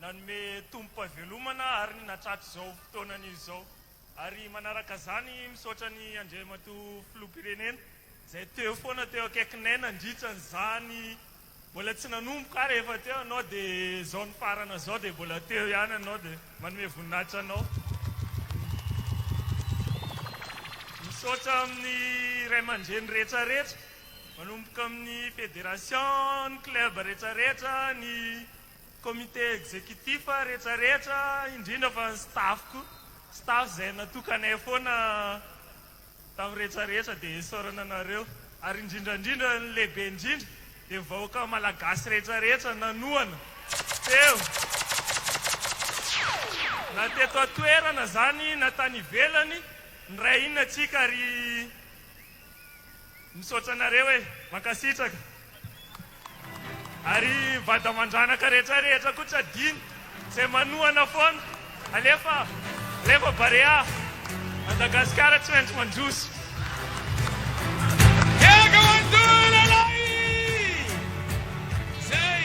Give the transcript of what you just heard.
Nanome tombom-pahavelomana àry ny natratrizao fotoanany izy izao. Ary manaraka izany, misaotra an'i Andriamatoa Filoham-pirenena izay teo foana teo akaikinay nandritra an'izany. Mbola tsy nanomboka ary efa teo ianao dia izao nifarana izao dia mbola teo ihany ianao dia manome voninahitra anao. Misaotra amin'ny ray aman-dreny rehetrarehetra manomboka amin'ny federation, ny club rehetrarehetra, ny Comité exécutif retraretra indrindra fa ny staff ko staff zay natokanay foana tam retraretra de isaorana anareo ary indrindrandrindra ny lehibe indrindra de vahoaka malagasy retraretra nanohana teo na teto atoerana zany na tany ivelany niray hina tsika ry Misaotra anareo e! Mankasitraka! Ary vady aman-dranaka rehetra rehetra koa tsy adino izay manohana foana! Alefa! Alefa Barea! Madagasikara tsy maintsy mandroso! Miaraka manohy lehilahy! Zay!